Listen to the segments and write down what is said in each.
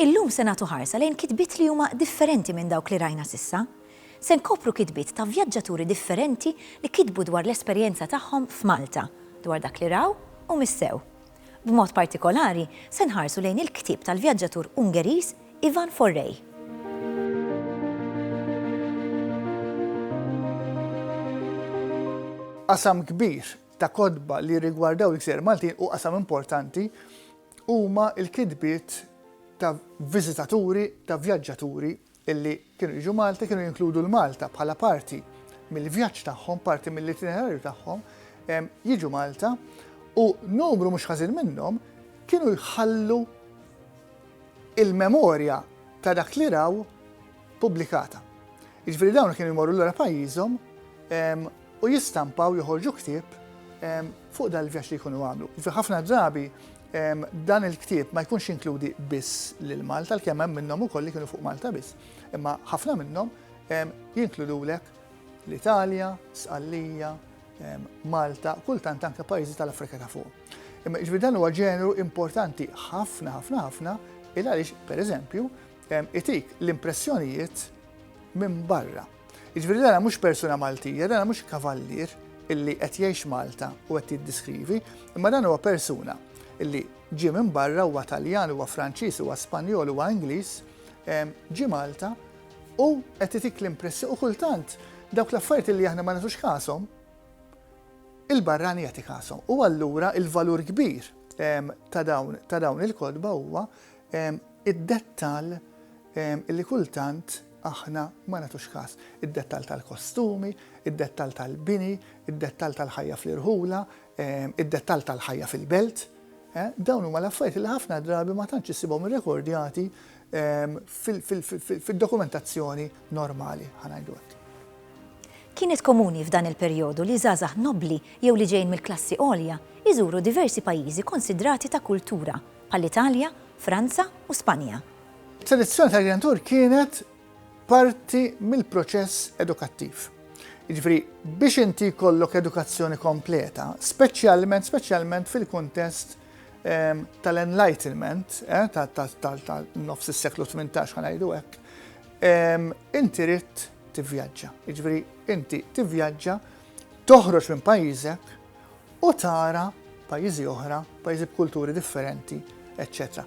Illum se nagħtu ħarsa lejn kitbiet li huma differenti minn dawk li rajna sissa. Se nkopru kitbiet ta' vjaġġaturi differenti li kitbu dwar l-esperjenza tagħhom f'Malta, dwar dak li raw u missew. B'mod partikolari, se nħarsu lejn il-ktieb tal-vjaġġatur Ungeriż Ivan Forrej. Qasam kbir ta' kotba li rigwardaw il-gżer Maltin u qasam importanti huma l-kitbiet ta' viżitaturi, ta' vjaġġaturi illi kienu jiġu Malta kienu jinkludu 'l Malta bħala parti mill-vjaġġ tagħhom, parti mill-itinerarju tagħhom, jiġu Malta u numru mhux ħażin minnhom kienu jħallu il-memorja ta' dak li raw pubblikata. Jiġifieri dawn kienu jmorru lura pajjiżhom u jistampaw joħorġu ktieb fuq dan il-vjaġġ li jkunu għamlu. Fi ħafna drabi dan il-ktieb ma jkunx inkludi biss lil Malta, l-kemm hemm minnhom ukoll li kienu fuq Malta biss, imma ħafna minnhom jinkludulek l-Italja, Sqallija, Malta, kultant anke pajjiżi tal-Afrika ta' fuq. Imma ġbir dan huwa ġeneru importanti ħafna ħafna ħafna il għaliex pereżempju itik l-impressjonijiet minn barra. Jiġifieri dana mhux persuna Maltija, dana mhux kavallier illi qed jgħix Malta u qed jiddiskrivi, imma dan huwa persuna illi ġie minn barra huwa Taljan, huwa Franċiż, huwa Spanjol, huwa Ingliż, ġie Malta u qed itik l-impressjoni u kultant dawk l-affarijiet illi aħna ma nagħtux kasom, il-barrani jagħti kasom. U allura il-valur kbir ta' dawn il-kodba huwa id-dettal illi kultant Aħna ma nagħtux kas. Id-dettall tal-kostumi, id-dettall tal-bini, id-dettall tal-ħajja fl-irħula, id-dettall tal-ħajja fil-belt, dawn huma l-affarijiet li ħafna drabi ma tantx issibhom irrekordjati fid-dokumentazzjoni normali, ħa ngħidu hekk. Kienet komuni f'dan il-perjodu li żgħażagħ nobbli jew li ġejjin mill-klassi għolja jżuru diversi pajjiżi konsidrati ta' kultura, bħall-Italja, Franza u Spanja. Selezzjoni tal-Genitur kienet parti mill-proċess edukattiv. Jiġifieri biex inti jkollok edukazzjoni kompleta, speċjalment speċjalment fil-kuntest ehm, tal-enlightenment, eh, tal-nofs is-seklu 18 ħa ngħidu hekk, ehm, inti rid tivvjaġġa. Jiġifieri inti tivvjaġġa, toħroġ minn pajjiżek u tara pajjiżi oħra, pajjiżi b'kulturi differenti, eċċetera.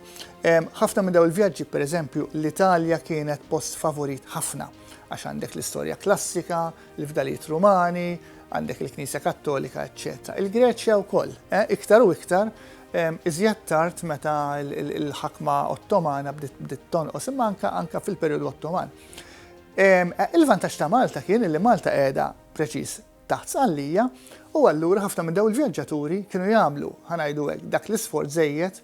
Ħafna minn daw il-vjaġġi, per eżempju, l-Italja kienet post favorit ħafna, għax għandek l-istorja klassika, l-fdalijiet rumani, għandek il-Knisja Kattolika, eċċetera. Il-Greċja wkoll, eh, iktar u iktar, iżjed tard meta l-ħakma Ottomana bdiet tonqos, imma anka fil-perjodu Ottoman. Eh, il-vantaġġ ta' Malta kien li Malta qiegħda preċiż taħt Sqallija u allura ħafna minn dawn il-vjaġġaturi kienu jagħmlu, ħa ngħidu hekk, dak l-isforz żejjed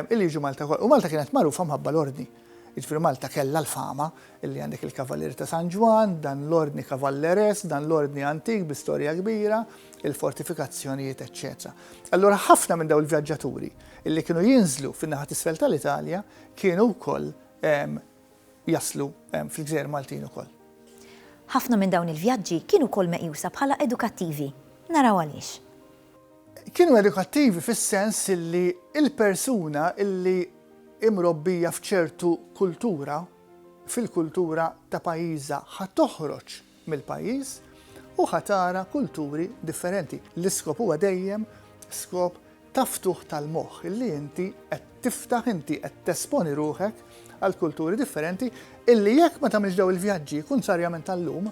illi jiġu Malta wkoll. U Malta kienet magħrufa mħabba l-Ordni. Jiġifieri Malta kellha l-fama illi għandek il-Kavalieri ta' San Ġwann, dan l-Ordni Cavalleres, dan l-Ordni antik bi storja kbira, il-fortifikazzjonijiet, eċċetera. Allura ħafna minn dawn il-vjaġġaturi illi kienu jinżlu fin-naħa t'isfel tal-Italja kienu wkoll jaslu fil-gżejjer Maltin ukoll. Ħafna minn dawn il-vjaġġi kienu wkoll meqjusa bħala edukattivi. Naraw għaliex. Kienu edukattivi fis-sens li l-persuna li hi mrobbija f'ċertu kultura, fil-kultura ta' pajjiżha, ħa toħroġ mill-pajjiż u ħa tara kulturi differenti. L-iskop huwa dejjem skop ta' ftuħ tal-moħħ, illi inti qed tiftaħ, inti qed tesponi ruħek għal kulturi differenti illi jekk ma tagħmilx dawn il-vjaġġi, kuntrarjament tal-lum,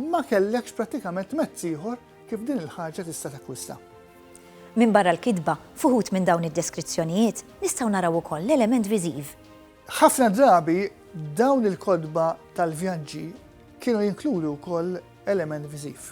ma kellekx prattikament mezz ieħor kif din il-ħaġa tista' takkwista. Minbarra l-kitba, f'uħud minn dawn id-deskrizzjonijiet nistgħu naraw ukoll l-element viżiv. Ħafna drabi dawn il-kotba tal-vjaġġi kienu jinkludu wkoll element viżiv.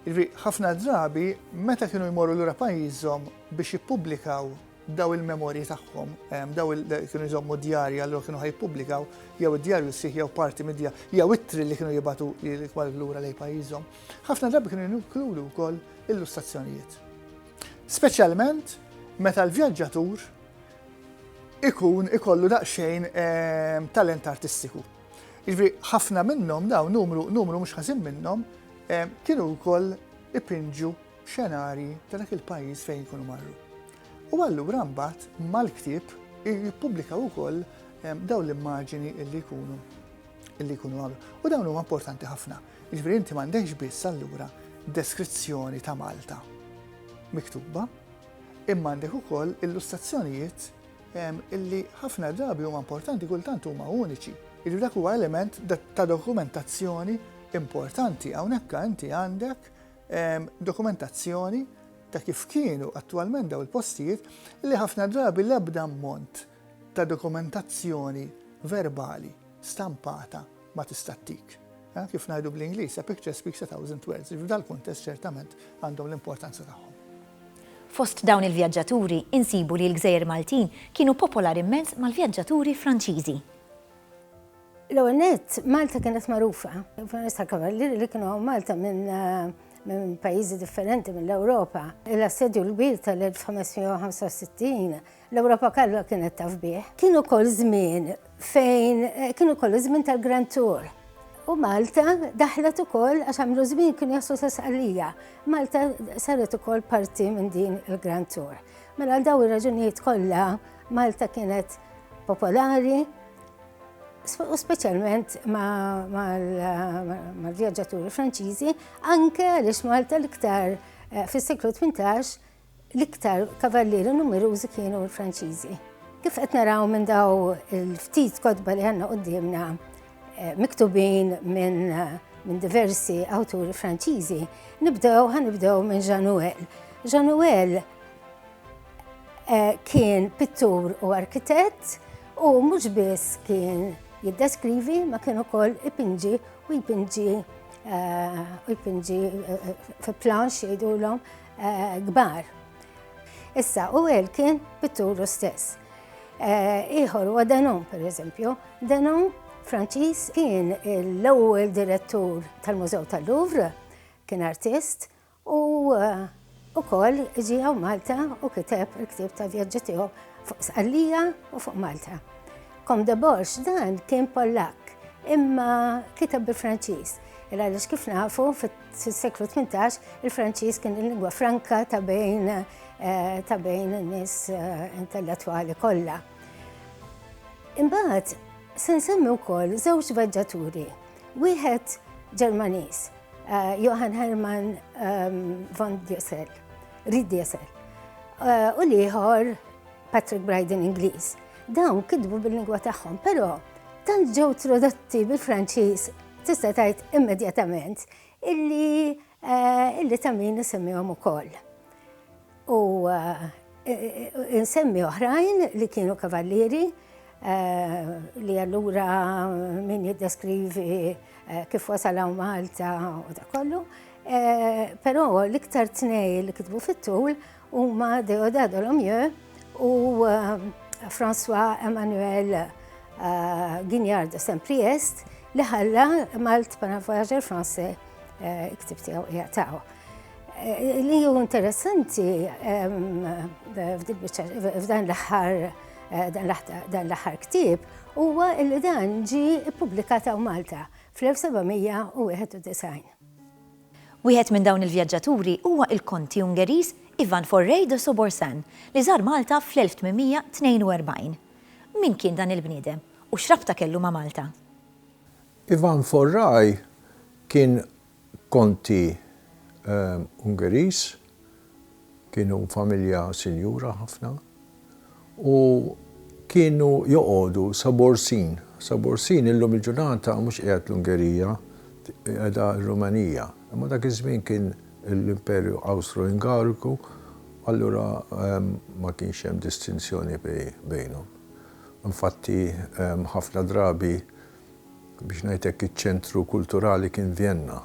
Jiġri ħafna drabi meta kienu jmorru lura pajjiżhom biex jippubblikaw daw il-memorji tagħhom, ehm, daw kienu jżommu djarja allura kienu ħajpubblikaw jew id-djarju sieħ jew parti mid-djar, jew ittri li kienu jibatu l-ikwal lura lej pajjiżhom. Ħafna drabi kienu jinkludu wkoll illustrazzjonijiet. Speċjalment meta l-vjaġġatur ikun ikollu daqsxejn talent artistiku. Jiġifieri ħafna minnhom dawn numru numru mhux ħażin minnhom kienu wkoll ipinġu xenarji ta' dak il-pajjiż fejn ikunu marru. U allura mbagħad mal-ktieb jippubblikaw ukoll dawn l-immaġini illi jkunu illi jkunu għamlu. U dawn huma importanti ħafna. Jiġifieri inti m'għandekx biss allura deskrizzjoni ta' Malta miktuba, Imma għandek ukoll illustrazzjonijiet illi ħafna drabi huma importanti kultant huma uniċi. Jiġifieri dak huwa element ta' dokumentazzjoni importanti. Hawnhekk inti għandek dokumentazzjoni ta' kif kienu attwalment daw il-postijiet li ħafna drabi l-ebda ammont ta' dokumentazzjoni verbali stampata ma tista' ttik. Kif ngħidu bl-Ingliż, a picture speaks a thousand words, li f'dal-kuntest ċertament għandhom l-importanza tagħhom. Fost dawn il-vjaġġaturi insibu li l-gżejjer Maltin kienu popolari mmens mal-vjaġġaturi Franċiżi. L-ewwel nett, Malta kienet magħrufa f'permezz tal-kavallieri li kienu hawn Malta minn minn pajjiżi differenti mill-Ewropa. L-assedju l-kbir tal-1565 L-Ewropa kollha kienet taf bih. Kien ukoll żmien fejn eh, kien ukoll żmien tal-Grand Tour. U Malta daħlet ukoll għax għamlu żmien kien jassu sasqalija. Malta saret ukoll parti minn din il-Grand Tour. Mela għal daw ir-raġunijiet kollha Malta kienet popolari u speċjalment mal-vjaġġaturi Franċiżi, anke għaliex Malta l-iktar eh, fis-seklu 18 L-iktar kavallieri numerużi kienu l-Franċiżi. Kif qed naraw minn daw il-ftit kotba li għandna quddiemna eh, miktubin minn min diversi awturi Franċiżi, nibdew ħanibdew minn Januel. Januel Eh, kien pittur u arkitett u mhux biss kien jiddeskrivi ma kien ukoll ipinġi u jpinġi eh, u jpinġi eh, fi planx jgħidulhom kbar. Issa, u għel kien pitturu stess. Eh, ieħor huwa Denon, per eżempju. Denon Franċiż kien l-ewwel direttur tal-Mużew tal-Louvre, kien artist u eh, ukoll ġie hawn Malta u kiteb il-ktieb ta' vjaġġi tiegħu fuq Sqallija u fuq Malta. Kom de Borx dan kien Pollak, imma kiteb bi Franċiż. Il għaliex kif nafu fit Fis-seklu 18 il-Franċiż kien il-lingwa franka ta' bejn eh, ta' bejn in-nies eh, intellettwali kollha. Imbagħad se nsemmi wkoll żewġ vagġaturi. Wieħed Ġermaniż, eh, Johann Hermann ehm, von Diesel, Ried Diesel, u l-ieħor Patrick Bryden Ingliż. Dawn kidbu bil-lingwa tagħhom, però tant ġew tradotti bil-Franċiż Tista' tgħid immedjatament illi illi ta' min isemmihom ukoll. U insemmi oħrajn li kienu kavallieri li allura min jiddeskrivi kif wasalaw Malta u da kollu. Però l-iktar tnej li kitbu fit-tul Huma Deodat Dolomieu u François Emmanuel Guignard de Saint-Priest li ħalla Malt Panavoyager Français iktib tiegħu jgħataw. Li ju interessanti f'dan l-aħħar dan l-aħħar ktib huwa li dan ġi ippubblikat hawn Malta fl-1791. Wieħed minn dawn il-vjaġġaturi huwa il-Konti Ungeriż Ivan Forrey de Soborsan li żar Malta fl-1842. Min kien dan il-bniedem u x'rabta kellu ma' Malta? Ivan Forrey kien Konti Ungeriż Kienu familja sinjura ħafna u kienu joqogħdu sa Borsin. Sa Borsin illum il-ġurnata mhux qiegħed l-Ungerija, qiegħda r-Rumanija. Imma dak iż-żmien kien l-Imperju Awstro-Ungariku, allura ma kienx hemm distinzjoni bejnhom. Infatti ħafna drabi Biex ngħid hekk iċ-ċentru kulturali kien Vjenna,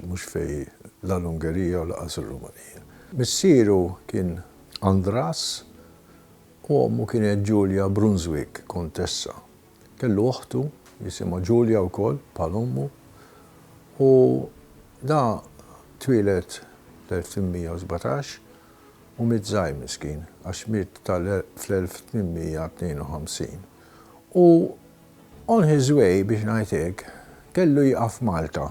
mhux fejn la l-Ungerija u lanqas ir-Rumanija. Missieru kien Andras u ommu kienet Julia Brunswick, kontessa. Kellu oħtu jisimha Julia wkoll bħal ommu u da twieled fl-1817 u miet żgħir miskin għax miet fl-1852 u On his way, biex ngħid hekk, kellu jieqaf f'Malta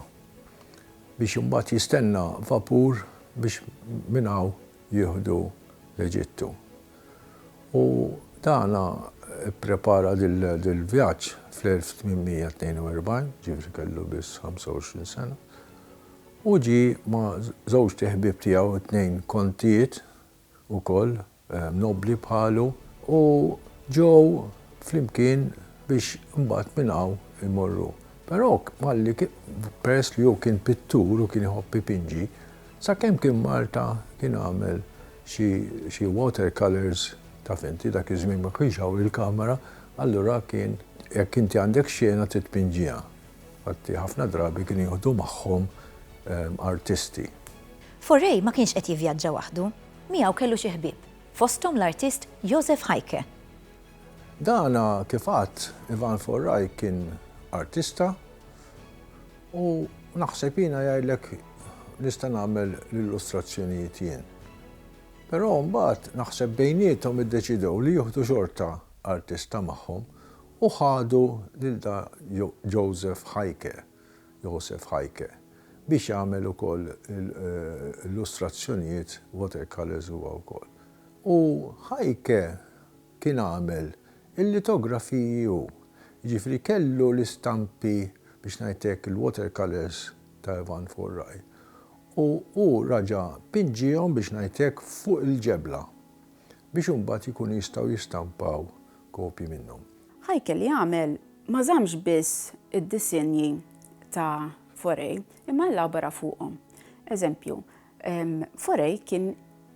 biex imbagħad jistenna vapur biex minn hawn jieħdu l-Eġittu. U dan ipprepara dil-vjaġġ fl-1842, ġifieri kellu biss 25 sena, u ġie ma' żewġt iħbieb tiegħu, it-tnejn kontijiet ukoll, nobbli bħalu u ġew flimkien biex imbagħad minn hawn imorru. Però malli peress li hu kien pittur u kien iħobb ipinġi, sakemm kien Malta kien għamel xi xi water colours, taf inti dak iż-żmien ma kienx hawn il-kamera, allura kien jekk inti għandek xena trid tpinġiha. Infatti, ħafna drabi kienu jieħdu magħhom artisti. Forey ma kienx qed jivvjaġġa waħdu. Miegħu kellu xi ħbieb, fosthom l-artist Josef Heicke. Dan kif għadt, Ivan Forey kien artista u naħseb jiena jgħidlek nista' nagħmel l-illustrazzjonijiet jien. Però mbagħad naħseb bejniethom iddeċidew li jieħdu xorta artista magħhom U ħadu lil da Joseph Heike, Josef Heike, biex jagħmel ukoll illustrazzjonijiet, watercolours huwa wkoll. U Heike kien għamel il-litografiji hu. Jiġifieri kellu l-istampi, biex ngħidlek, il-watercolours ta' Ivan Furaj. U hu raġa' pinġiehom, biex ngħidlek, fuq il-ġebla. biex imbagħad ikunu jistgħu jistampaw kopji minnhom. Heike li għamel ma żammx biss id-disinji ta' Forey imma elabora fuqhom. Eżempju, Forey kien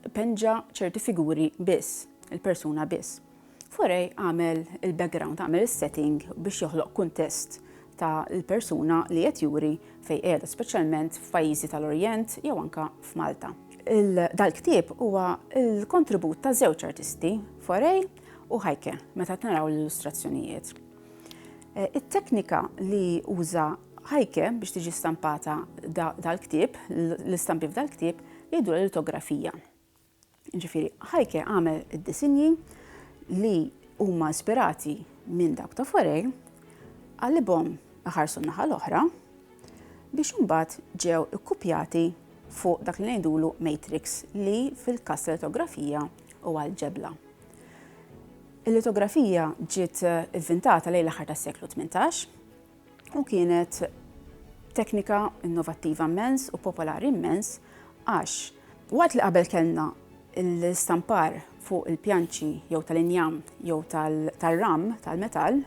ipenġa ċerti figuri biss, il-persuna biss. Forey għamel il-background, għamel is-setting biex joħloq kuntest ta' l-persuna li qed juri fejn qiegħda, speċjalment f'pajjiżi ta' l-Orjent jew anke f'Malta. Dal-ktieb huwa l-kontribut ta' żewġ artisti, Forey u Heike, meta taraw l-illustrazzjonijiet. It-teknika li uża Heike biex tiġi stampata dal-ktieb, l-istampi f'dal-ktieb, jgħidulha litografija. Jiġifieri Heike għamel id-disinji li huma ispirati minn dawk ta' Fauré, qalibhom iħarsu n-naħa l-oħra biex imbagħad ġew ikkupjati fuq dak li ngħidulu matrix li fil-każ tal-litografija huwa l-ġebla. Il-litografija ġiet ivvintata lejn l-aħħar tas-seklu tmintax. u kienet teknika innovattiva immens u popolari immens għax waqt li qabel kellna l-istampar fuq il-pjanċi jew tal-injam jew tal-ram tal-metall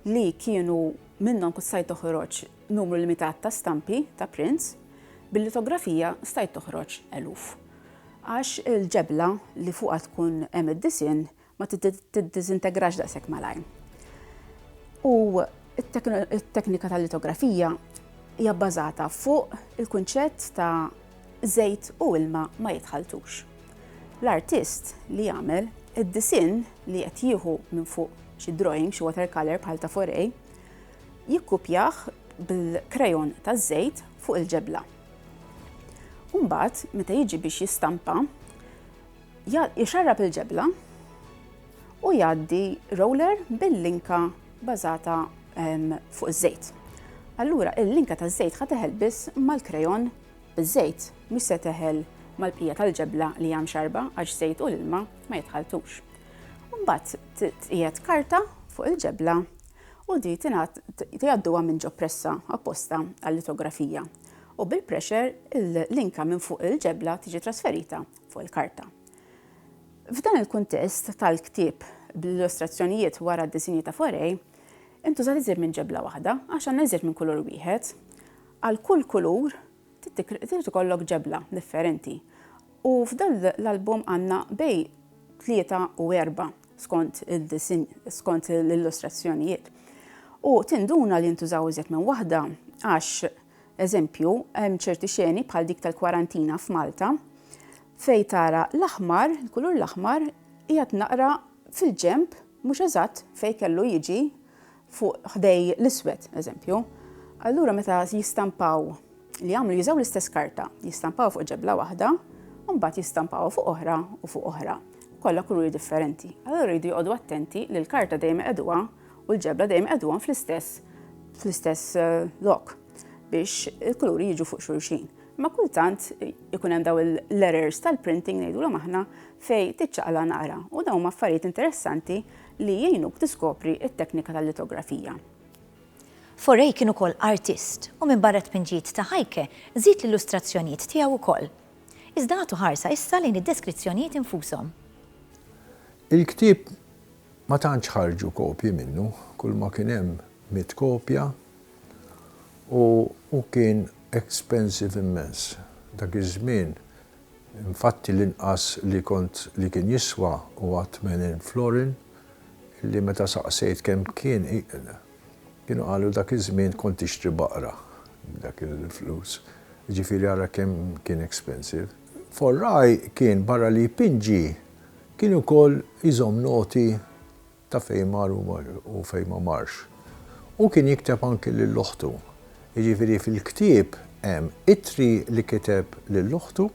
li kienu minnhom kont stajt toħroġ numru limitat ta' stampi ta' prints, bil-litografija stajt toħroġ eluf. Għax il-ġebla li fuqha tkun hemm id-disinn ma tiddiżintegrax daqshekk malajr. U t-teknika tal-litografija hija bbażata fuq il-kunċett ta' żejt u ilma ma jitħalltux. L-artist li jagħmel id-disinn li qed jieħu minn fuq xi drawing, xi watercolor bħal ta' Foray, jikkupjah bil-krejon taż-żejt fuq il-ġebla. U mbagħad meta jiġi biex jistampa, Jxarrab il-ġebla u jgħaddi roller bil-linka bażata fuq iż-żejt. Allura il-linka taż-żejt ħa teħel biss mal-krejon biż-żejt, mhux se teħel mal-bqija tal-ġebla li hija mxarrba għax żejt u l-ilma ma jitħalltux. Mbagħad tqiegħed karta fuq il-ġebla u di jgħadduha minn ġo pressa apposta għal-litografija u bil-pressure il-linka minn fuq il-ġebla tiġi trasferita fuq il-karta. F'dan il-kuntest tal-ktieb bl-illustrazzjonijiet wara d-disinji ta' Forey, intużat iżjed minn ġebla waħda għax għandna iżjed minn kulur wieħed. Għal kull kulur trid ikollok ġebla differenti u f'dan l-album għandna bejn tlieta u erba' skont il-disinn, skont l-illustrazzjonijiet. U tinduna li jintużaw iżjed minn waħda għax Eżempju, hemm ċerti xeni bħal dik tal-kwarantina f'Malta fejn tara l-aħmar, il-kulur l-aħmar qiegħed naqra fil-ġenb mhux eżatt fejn kellu jiġi fuq ħdej l-iswed, eżempju. Allura meta jistampaw li jagħmlu jużaw l-istess karta, jistampaw fuq ġebla waħda, u mbagħad jistampaw fuq oħra u fuq oħra, kollha kuluri differenti. Allura jridu joqogħdu attenti li l-karta dejjem iqegħduha u l-ġebla dejjem iqegħduhom fl-istess fl-istess eh, lok biex il-kuluri jiġu fuq xulxin. Ma kultant ikun hemm daw il-letters tal-printing ngħidulhom aħna fej tiċċaqla naqra u dawn affarijiet interessanti li jgħinuk tiskopri it-teknika tal-litografija. Forej kien ukoll artist u minn barra tpinġijiet ta' ħajke żid l-illustrazzjonijiet tiegħu wkoll. Iżda għatu ħarsa issa lejn id-deskrizzjonijiet infushom. Il-ktieb Ma tantx ħarġu kopji minnu, kulma kien hemm mitt kopja u hu kien expensive immens. Dak iż-żmien infatti l-inqas li kont li kien jiswa huwa tmenin florin li meta saqsejt kemm kien kienu qalu dak iż-żmien kont tixtri baqra b'dak il-flus. Jiġifieri ara kemm kien expensive. Forraj kien barra li jpinġi Kien ukoll jżomm noti ta' fejn mar u fejn ma marx. Hu kien jikteb anki lil oħtu. Jiġifieri fil-ktieb hemm ittri li kiteb lil oħtu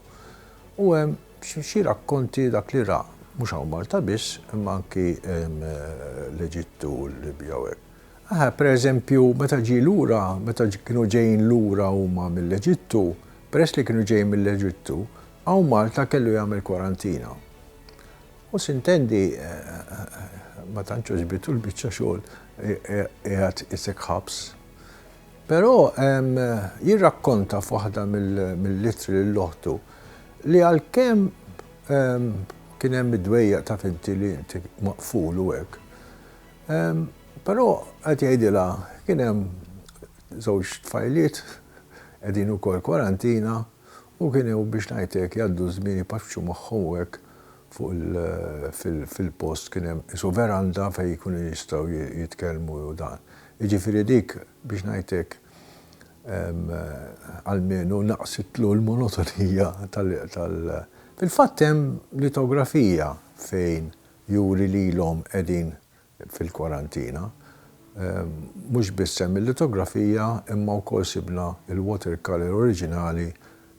u hemm xi rakkonti dak li ra, mhux hawn Malta biss imma anki l-Eġittu u l-Libja u hekk. Aha, per eżempju, meta ġie lura, meta kienu ġejjin lura huma mill-Eġittu, peress li kienu ġejjin mill-Eġittu, Hawn Malta kellu jagħmel kwarantina. U sintendi ma tantx għoġbitu l-biċċa xogħol qiegħed isek ħabs. Però jirrakkonta f'waħda mill-ittri lil oħtu li għalkemm kien hemm id-dwejjaq taf inti li inti maqful u hekk, però qed jgħidilha kien hemm żewġ tfajliet qegħdin ukoll kwarantina, U kienu biex ngħid hekk jgħaddu ż-żmien ipaċċu magħhom u hekk fuq il fil-post kien hemm qisu veranda fejn ikunu jistgħu jitkellmu u dan. Jiġifieri dik biex ngħid hekk almenu naqqsitlu l-monotonija tal tal Fil-fatt hemm litografija fejn juri lilhom qegħdin fil-kwarantina. Mhux biss hemm il-litografija imma wkoll sibna l-watercolour oriġinali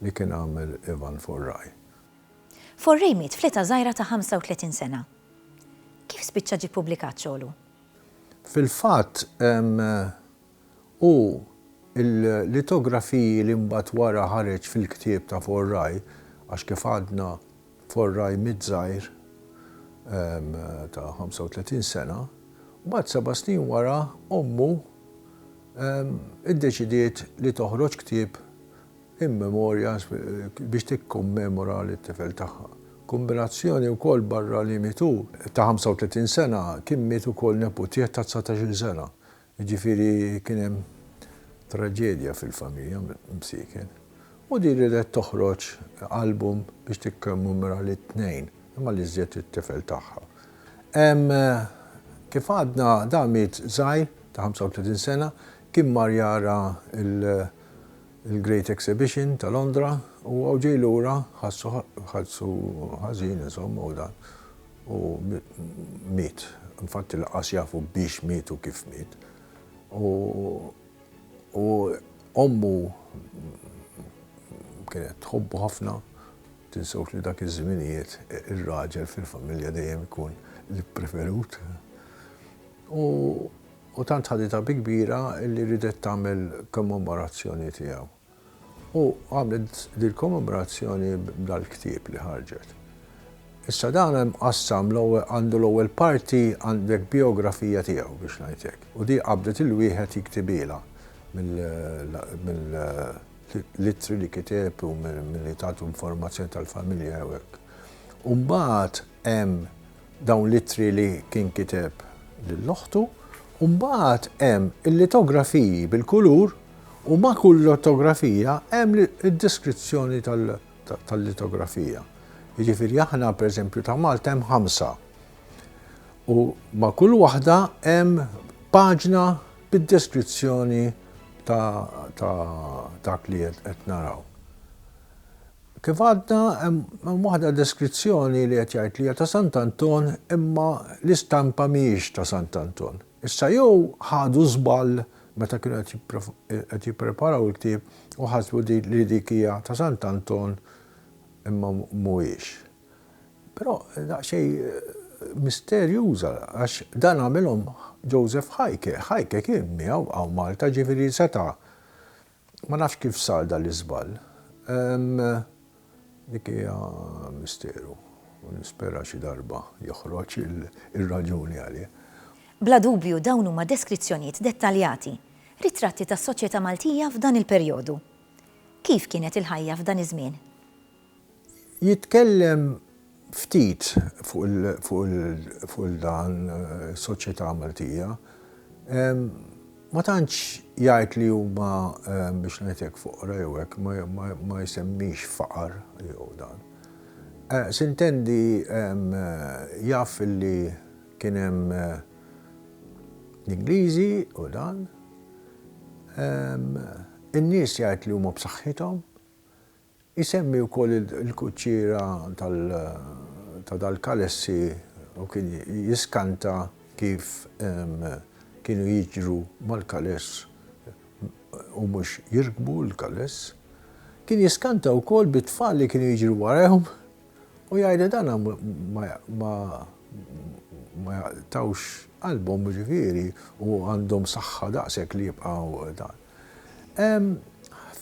li kien għamel Ivan Forrej. Forrej miet fl-età żgħira ta' 35 sena. Kif spiċċa ġie ppubblikat xogħlu? Fil-fatt, u l-litografiji li mbagħad wara ħareġ fil-ktieb ta' Forraj, għax kif għadna Forraj miet żgħir ta' 35 sena, mbagħad seba' snin wara ommu iddeċidiet li toħroġ ktieb in memorja biex tikkommemora lit-tifel tagħha. Kombinazzjoni wkoll barra li mietu ta' 35 sena kien miet ukoll neputieħ ta' dsatax-il sena Jiġifieri kien hemm traġedja fil-familja msieken u din riedet toħroġ album biex tikkommemora lit-tnejn, imma l-iżjed it-tifel tagħha. Hemm kif għadna dan miet żgħir ta' 35 sena, kien mar jara Il-Great Exhibition ta' Londra u hawn ġej lura ħassu ħassu ħażin insomma u dan u miet. Infatti lanqas jafu biex miet u kif miet. U u ommu kienet tħobbu ħafna, tinsewx li dak iż-żminijiet ir-raġel fil-familja dejjem ikun l-ippreferut. U U tant ħaditha bi kbira li riedet tagħmel kommemorazzjoni tiegħu. U għamlet dil-kommemorazzjoni b'dal-ktieb li ħarġet. Issa dan hemm mqassam l-ewwel għandu l-ewwel parti għandek bijografija tiegħu biex ngħid hekk. U di qabdet il-wieħed jiktibhielha mill mill-ittri li kiteb u milli tagħtu informazzjoni tal-familja jew hekk. U mbagħad hemm dawn l-ittri li kien kiteb lil oħtu u mbagħad hemm il-litografiji bil-kulur u ma' kull litografija hemm id-deskrizzjoni tal-litografija. Jiġifieri aħna pereżempju ta' Malta hemm ħamsa. U ma' kull waħda hemm paġna bid-deskrizzjoni ta' dak li qed naraw. Kif għadna, hemm waħda deskrizzjoni li qed jgħid li hija ta' Sant' Anton imma l-istampa mhijiex ta' Sant' Anton. Issa jew ħadu żball meta kienu qed jippreparaw il-ktieb u ħasbu li dik hija ta' Sant' Anton imma mhuwiex. Però daqsxejn misterjuża għax dan għamilhom Joseph Heike. Heike kien miegħu hawn Malta ġifieri seta' Ma nafx kif sar dan l-iżball. Dik hija misteru u nispera xi darba joħroġ ir-raġuni għalih. Bla dubju dawn huma deskrizzjonijiet dettaljati, ritratti tas-soċjetà Maltija f'dan il-perjodu. Kif kienet il-ħajja f'dan iż-żmien? Jitkellem ftit fuq il-dan is-soċjetà Maltija. Ma tantx jgħid li huma biex ngħid hekk foqra jew hekk, ma jsemmix faqar jew dan. S'intendi jaf li kien hemm l-Ingliżi u dan. In-nies jgħid li huma b'saħħithom. Isemmi wkoll il-kuċċiera ta' dal-kalessi u kien jiskanta kif kienu jiġru mal-kaless u mhux jirkbu l-kaless. Kien jiskanta wkoll bit-tfal li kienu jiġru warahom u jgħid li dan ma ma jaqtgħux qalbhom jiġifieri u għandhom saħħa daqshekk li jibqgħu dan. Ehm,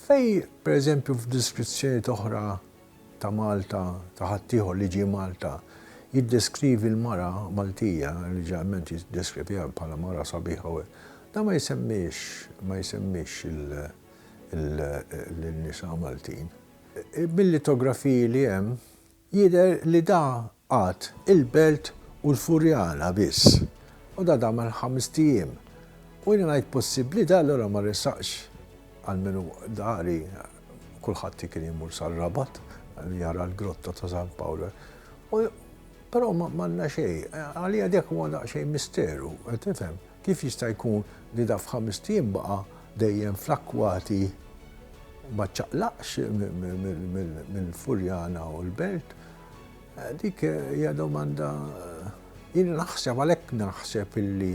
fej, per eżempju, f'deskrizzjonijiet oħra ta' Malta, ta' ħaddieħor li ġie Malta, jiddeskrivi l-mara Maltija, li ġeneralment jiddeskriviha bħala mara sabiħa u hekk, dan ma jsemmix, ma jsemmix lin-nisa Maltin. Bil-litografiji li hemm. Jidher li da qagħad il-Belt u l-Furjana biss, u da dam għal ħamest ijiem. U jiena ngħid possibbli da allura ma resaqx għal min hu dari, kulħadd kien imur sar-Rabat jara l-Grotta ta' San Pawl. U però m'għandna xejn. Għalija dak huwa daqsxejn misteru, qed tifhem? Kif jista' jkun li da f'ħamest ijiem baqa' dejjem fl-akkwati Ma ċċaqlaqx mill-Furjana u l-Belt? Dik hija domanda jien naħseb għalhekk naħseb illi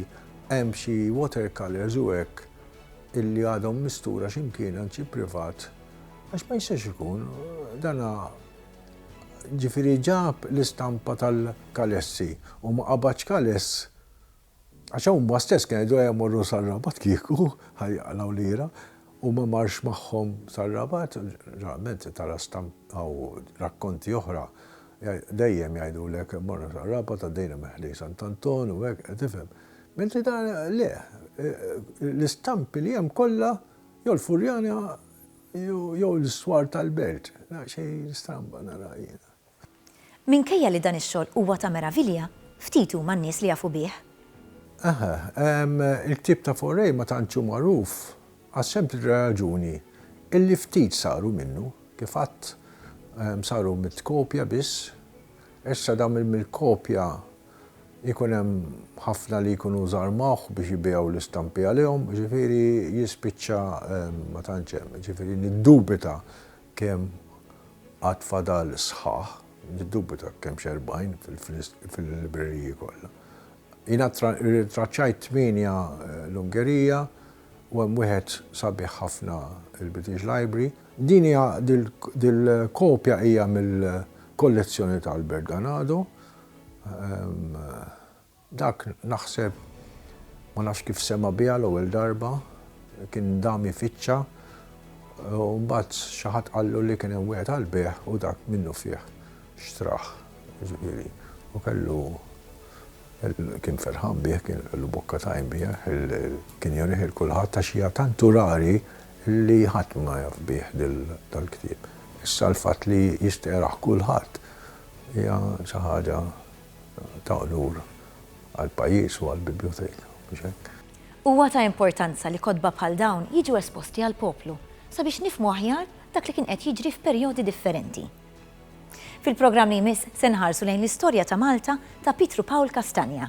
hemm xi watercolours u hekk illi għadhom mistura x'imkien għand xi privat għax ma jistax ikun dana ġifieri ġab l-istampa tal-kalessi u ma qabadx kaless Għax huma stess kienu jgħidu ejja mmorru sar-Rabat kieku ħa jaqlgħu lira u ma marx magħhom sar-Rabat, ġeneralment tara stampi hawn rakkonti oħra dejjem jgħidulek morna sar-Rabat għaddejna minn ħdejn Sant' Anton u hekk, tifhem. Mentri dan le, l-istampi li hemm kollha jew l-Furjana jew l-iswar tal-Belt, nara xejn stramba nara jiena. Minkejja li dan ix-xogħol huwa ta' meravilja, ftit huma n-nies li jafu bih. Aha, il-ktieb ta' Fauré ma tantx hu magħruf għas-sempliċi raġuni illi ftit saru minnu, kif għadt, saru mitt kopja biss. Issa dawn il-mill kopja jkun hemm ħafna li jkunu żarmawh biex jibigħu l-istampi għalihom, jiġifieri jispiċċa ma tantx hemm. Jiġifieri niddubita Kemm għad fadal sħaħ? Niddubita kemm x'erbgħin fil-libreriji kollha. Jiena rrintraċċajt tmienja l-Ungerija u hemm wieħed sabiħ ħafna il-British Library. Din hija, dil-kopja hija mill-kollezzjoni ta' Albert Ganado. Dak, naħseb, ma nafx kif sema' biha l-ewwel darba, kien dam ifittxa u mbagħad xi ħadd qallu li kien hemm wieħed għall-bejgħ u dak minnufih xtrah. Jiġifieri, u kellu, kien ferħan bih, kien kellu bokka tajn biha, kien jurih 'il kulħadd għax hija tantu rari li ħadd ma jaf bih dal-ktieb. Issa l-fatt li jistgħerah kulħadd hija xi ħaġa ta' unur għall-pajjiż u għall-Bibljoteka, mhux hekk? Huwa ta' importanza li kotba bħal dawn jiġu esposti għall-poplu sabiex nifhmu aħjar dak li kien qed jiġri f'perjodi differenti. Fil-programm li jmiss se nħarsu lejn l-istorja ta' Malta ta' Pietru Pawl Castagna.